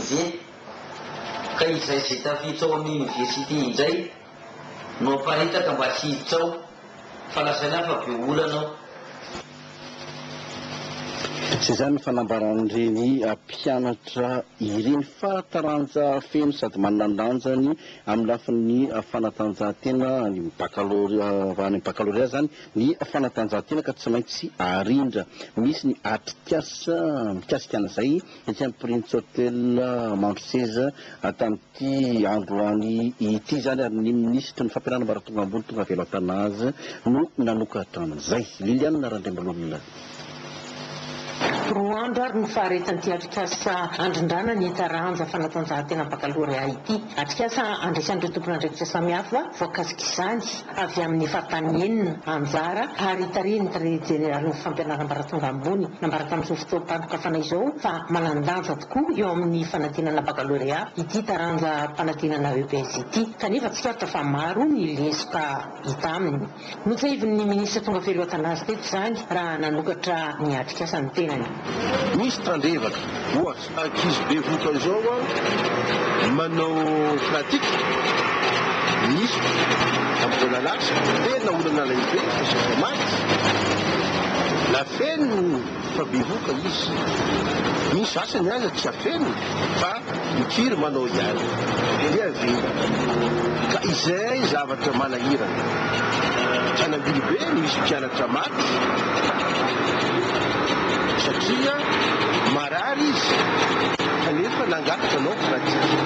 Ze. Ka izay ze tafiditra ao amin'ny université indray no aparitaka mba tsy hiditra ao fa lazaina fa be olana ao. Tsy izany ny fanambaran'ireny mpianatra ireny fa taranja feno sady manana ny lanjany amin'ny lafin'ny fanatanjahantena any amin'ny bakalorea, any amin'ny bakalorea izany ny fanatanjahantena ka tsy maintsy arindra. Misy ny atrikasa mikasika an'izay. Etsy ampirindritsy hotel Mandroseza tamin'ity androany ity izany ary ny minisitry ny fampianarana ambaratonga ambony Tongavelo Athanase no nanokatra an'izay. Liliane Randriambololona. Roa andro ary no faharetan'ity atrikasa handrindrana ny taranja fanatanjahantena bakalorea ity. Atrikasa handresan'ireo tompon'andraikitra samihafa voakasik'izany. avy amin'ny faritany enina anjara ary hitarihin'ny Tale jeneralin'ny fampianaram-baratonga ambony ambaratan'izao fotoam-pandokafana izao fa manan-danja tokoa eo amin'ny fanadinana bakalorea ity taranja mpanadinana EPS ity kanefa tsikaritra fa maro ny lesoka hita aminy. Notsahivin'ny minisitra tonga feloatana azy teto izany raha nanokatra ny atrikasa ny tenany. Misy tandrevaka, ohatra, Ankizy bevoka izao an, manao pratique misy amin'ny vola lasa, tena olana lehibe fa sisa maty na feno fa bevoka izy, ny sasany aza tsy afenina fa mikiry manao ihany, dia avy eo ka izay zavatra manahirana, mpianambilobe misy mpianatra. Efa maty satria marary izy kanefa nangataka anao pratique.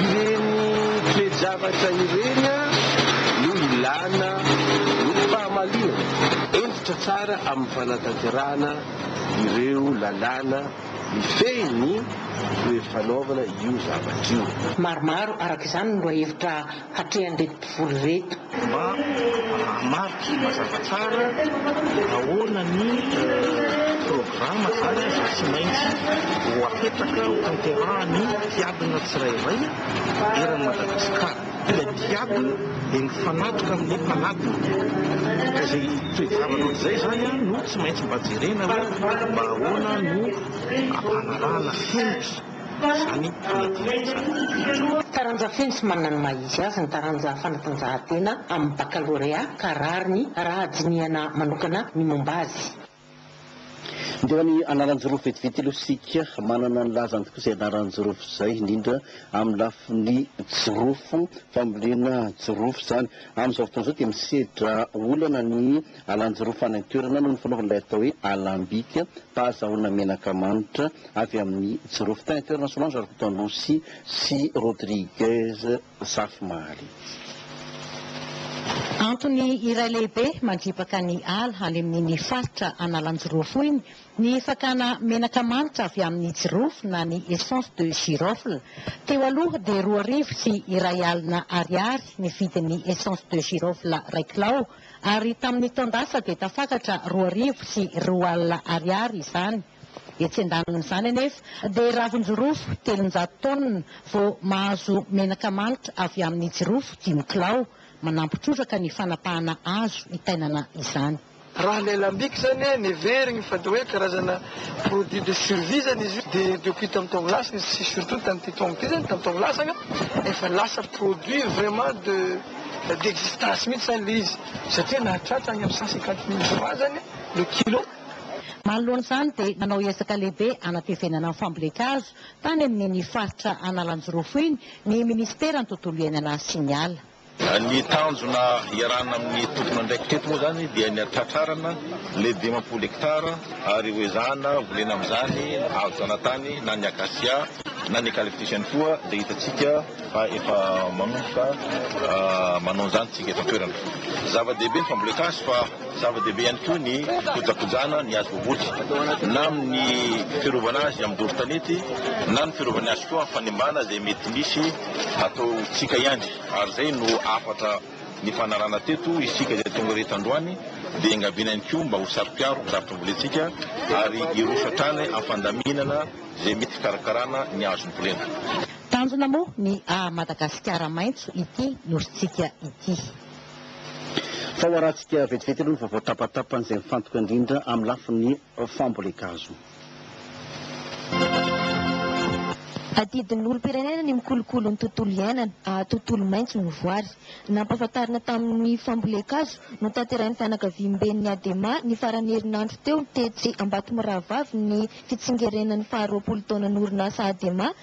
Ireny toe-javatra ireny no ilana ny fahamalinana. Hentitra tsara amin'ny fanatanterahana ireo lalàna mifehy ny toe-fanaovana io zavatra io. Maromaro araka izany ny lohahevitra hatrehan'ireto mpivory ireto. Mba hahamariky mazava tsara ahoana ny programa izany izay tsy maintsy ho apetraka ho tanterahan'ny mpiadina tsirairay eran'i Madagasikara. Ilay mpiadina dia mifanatoka amin'ny mpanadina, ka izay toe-javatra ohatr'izay izany no tsy maintsy mba jerena hoe mba ahoana no hanarahana fenitra. Izany fanadihadiana. Taranja feno sy manana ny maha izy azy ny taranja fanatanjahantena amin'ny bakalorea ka rariny raha dinihana manokana ny momba azy. Dia ny anaran-jorofo vetivetyy aloha isika manana ny lazany tokoa izay anaran-jorofo izay indrindra amin'ny lafiny jorofo, fambolena jorofo izany. Amin'izao fotoana izao dia misedra olana ny. Alanjirofana an-toerana no nifanaovan'ilay atao hoe alambika, fahazahoana menaka manitra avy amin'ny jirofo. Tany an-toerana Solange Rakotoandosy sy Rodriguez Zafimahaly. Antony iray lehibe mandripaka ny ala any amin'iny faritra Analanjirofo iny ny fakana menaka manitra avy amin'ny jirofo na ny essence de girofle. Teo aloha dia roa arivo sy iray alina ariary ny vidin'ny essence de girofle iray kilao. Ary tamin'ny taon-dasa dia tafakatra roa arivo sy roa alina ariary izany. Etsy an-danin'izany anefa dia ravin-jirofo telonjato taonina vao mahazo menaka manitra avy amin'ny jirofo dimy kilao, manampy trotraka ny fanapahana azo itainana izany. Raha ilay lambic izany neverigny fa dia hoe karazana produit de survie izany izy io dia depuis tamin'ny taona lasa izy sy surtout tamin'ity taona ity izany, tamin'ny taona lasa anga efa lasa produit vraiment de. D'existence mihitsy zany le izy satria nahatratra any am cent cinquante mille francs zany le kilo. Manoloana izany dia nanao ezaka lehibe hanatrevenana ny fambolen-kazo tany amin'iny faritra Analanjirofo iny ny minisiteran'ny tontolo iainana sy ny ala. Ny tanjona iarahana amin'ny tompon'andraikitra eto moa izany dia ny hatratrarana ilay dimampolo hectares ary ho ezahana volena amin'izany ny hazo zanatany na ny acacia na ny eucalyptus ihany koa izay hitantsika fa efa manomboka manao an'izany isika eto an-toerana. Zava-dehibe ny fambolena hazo fa zava-dehibe ihany koa ny fikojakojana ny hazo voavoky na amin'ny fiarovana azy amin'ny doro tanety na ny fiarovany azy koa amin'ny fanimbana izay mety misy ataontsika ihany ary izay no hafatra nifanarahana teto isika izay tonga ireto androany dia engaviana ihany koa mba ho saro-piaro ny zavatra ambolentsika ary hiroso hatrany amin'ny fandaminana izay mety hikarakarana ny hazo mbolena. Tanjona moa ny haha Madagasikara maitso ity Nosintsika ity. Fahoarantsika vetivety aloha ny vaovao tapatapany izay mifantoka indrindra amin'ny lafiny fambolen-kazo. Adidin'ny olom-pirenena ny mikolokolo ny tontolo iainana haha tontolo maitso ny voary. Nampahafantarina tamin'ny fambolen-kazo notanterahin'ny fianakaviamben'ny Adema ny faran'ny herinandro teo tetsy Ambatomirahavavy ny fitsingerenan'ny faharoapolo taonan'orinasa Adema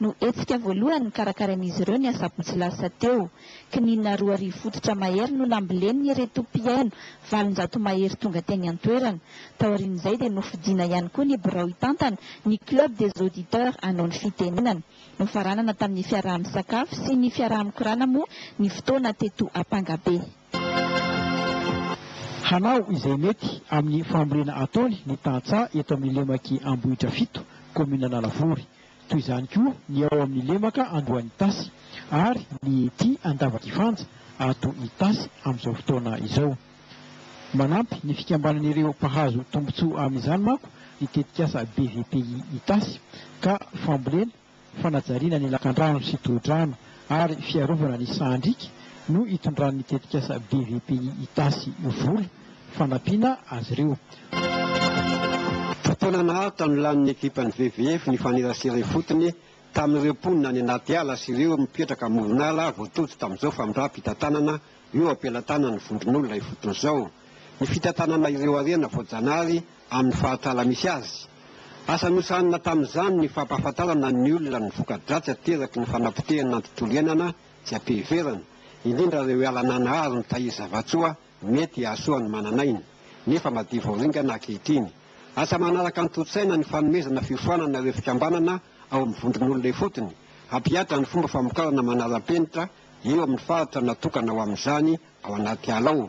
no hetsika voalohany nokarakarain'izy ireo ny asabotsy lasa teo. Kininina roa arivo fototra mahery no nambolenin'ireto mpihaino valonjato mahery tonga teny an-toerana. Taorian'izay dia nofidina ihany koa ny birao hitantana ny Club des auditeurs hanao ny fitenenana. Nofaranana tamin'ny fiaraha-misakafo sy ny fiaraha-mikorana moa ny fotoana teto Ampangabe. Hanao izay mety amin'ny fambolena ataony ny tantsaha eto amin'ny lemak'i Ambohidrafito, kaominin'Analavory. toy izany koa ny ao amin'ny lemaka Andohan'itasy ary ny ety Andavakifanja ato Itasy amin'izao fotoana izao. Manampy ny fikambanan'ireo mpahazo tombontsoa amin'izany manko ny tetikasa BVPI Itasy ka fambolena, fanajariana ny lakandrano sy tohodrano ary fiarovana ny sahan-driaka no itondran'ny tetikasa BVPI Itasy vola. fanampiana azy ireo. Fotoana naharitra no lanin'ny ekipan'ny VVF nifanerasera ifotony tamin'ireo mponina any anaty ala sy ireo mipetraka amoron'ala voatojo tamin'izao famindram-pitantanana eo am-pelatanan'ny vondron'olona ifotony izao ny fitantanana ireo harena voajanahary amin'ny faritr'ala misy azy. Asa nosahanina tamin'izany ny fampahafantarana ny olona ny voka-dratsy ateraky ny fanapotehana ny tontolo iainana tsy am-piheverana, indrindra ireo ala nanahary mitahiry zava-tsoa, Mety hahasoa ny manan'aina, nefa madio vao ringana ankehitriny. Asa manaraka antontaina ny fanomezana fiofanana ireo fikambanana ao amin'ny vondron'olona ifotony, hampihatra ny fomba famokarana manaram-penitra eo amin'ny faritra natokana ho amin'izany ao anaty ala ao.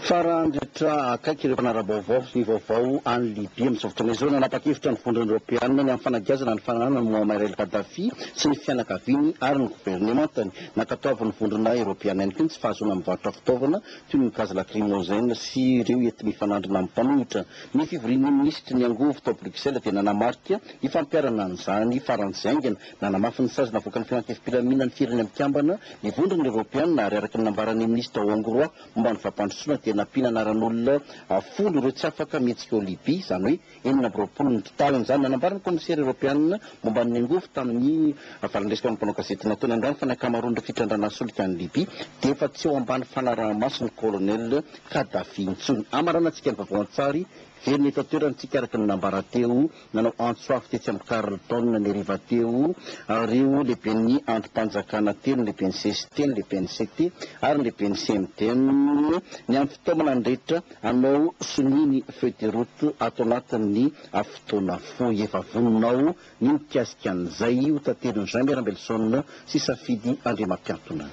Farandritra akaiky ireo mpanara-baovao, ny vaovao any Libya amin'izao fotoana izao, nanapa-kevitra ny Vondrona Eoropeana ny hampifanageazana ny fananana an'i Muammar el-Gaddafi sy ny fianakaviany ary ny governemantany. Nankatoavin'ny Vondrona Eoropeana ihany koa ny tsy fahazoana mivarotra fitaovana toy ny gaz lacrymogène sy ireo enti-mifanandrina amin'ny mpanohitra. Ny fivorian'ny minisitry ny angovo tao Bruxelles dia nanamarika ny fampiharana an'izany faran'izay haingana. Nanamafy ny sazy navoakan'ny Filankevi-pilaminan'ny Firenena Mikambana ny Vondrona Eoropeana ary araka ny nambaran'ny minisitra hongroà momba ny fampandrosoana dia nampiana anaran'olona folo ireo tsy afaka mihetsika ao Libya, izany hoe, enina amby roapolo ny totaliny izany. Nanambara ny kaomisera eropeanina momba ny angovo tamin'ny valan-dresaka amin'ny mpanao gazety nataony androany fa ny ankamaroan'ireo fitrandrana solika any Libya dia efa tsy eo ambany fanaraha-mason'ny Colonel Kadhafi intsony. Amaranantsika ny vaovao an-tsary very eto an-toerana isika araka ny nambara teo nanao antso avo tetsy amin'ny Carlton ny hariva teo ireo lehiben'ny andrim-panjakana telo, ny lehiben'ny CST, ny lehiben'ny CT ary ny lehiben'ny CMDM, ny amin'ny fitaomana nandrehitra Anao sonia ny feuille de route ato anatin'ny fotoana fohy. Efa voninao ny mikasika an'izay ho taterin'i Jaime Rambelson sy Safidy Andriamampiantona.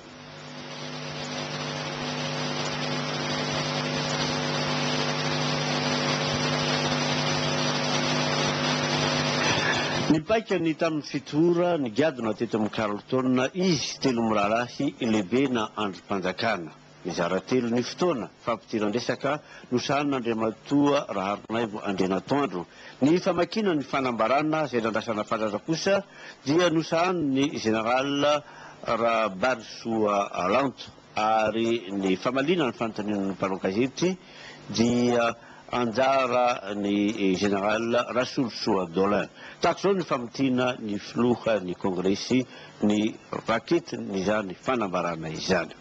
Ny paikany tamin'ny fito ora nigadona teto amin'ny Carlton izy telo mirahalahy, Lebe na Andrim-panjakana. Mizara telo ny fotoana fampidiran-dresaka nosahanin'Andriamatoa Raharinaivo Andrianatoandro. Ny famakiana ny fanambarana izay nandrasana fatratra kosa dia nosahanin'ny Général Rabarisoa Lanto ary ny famaliana ny fanontaniana ny mpanao gazety dia anjaran'ny Général Rasolosoa Dolin. Tahaka izao ny famintiana ny Filohan'ny Kongresy ny raketin'izany fanambarana izany.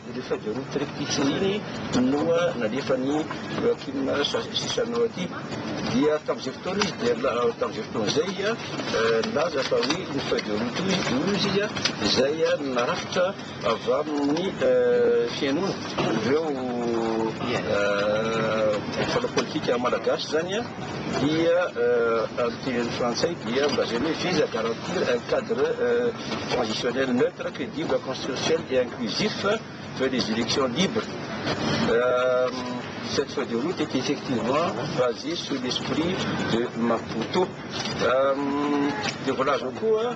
Ireo feuilles de route triptyque ireny no nalefan'i Joachim Chissano aty. Dia tamin'izay fotoana izy dia tamin'izay fotoana izay nilaza fa hoe iny feuille de route iny dia hoy izy izay narafitra avy amin'ny fihainoana ireo mpanao politika malagasy izany. dia amin'ny teny frantsay dia mba izay hoe vise à garantir un cadre transitionnel neutre, credible, consensuel et inclusif vers des elections libres. Cette feuille de route est effectivement basée sur l'esprit de Maputo. Dia voalazako koa.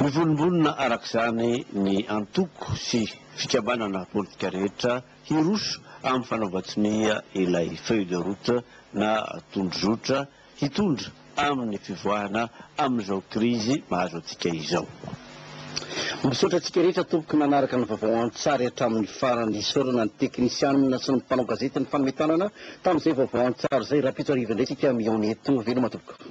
Mivolombonona araka izany ny antoko sy fikambanana politika rehetra hiroso amin'ny fanaovan-tsonia ilay feuille de route na tondrozotra hitondra amin'ny fivoahana amin'izao krizy mahazo antsika izao. Misaotra antsika rehetra tompoko nanaraka ny vaovao an-tsary hatramin'ny farany. Isaorana ny teknisianina sy ny mpanao gazety nifanome tanana tamin'izay vaovao an-tsary izay. Rahampitso hariva indray isika mihaona eto. Veloma tompoko.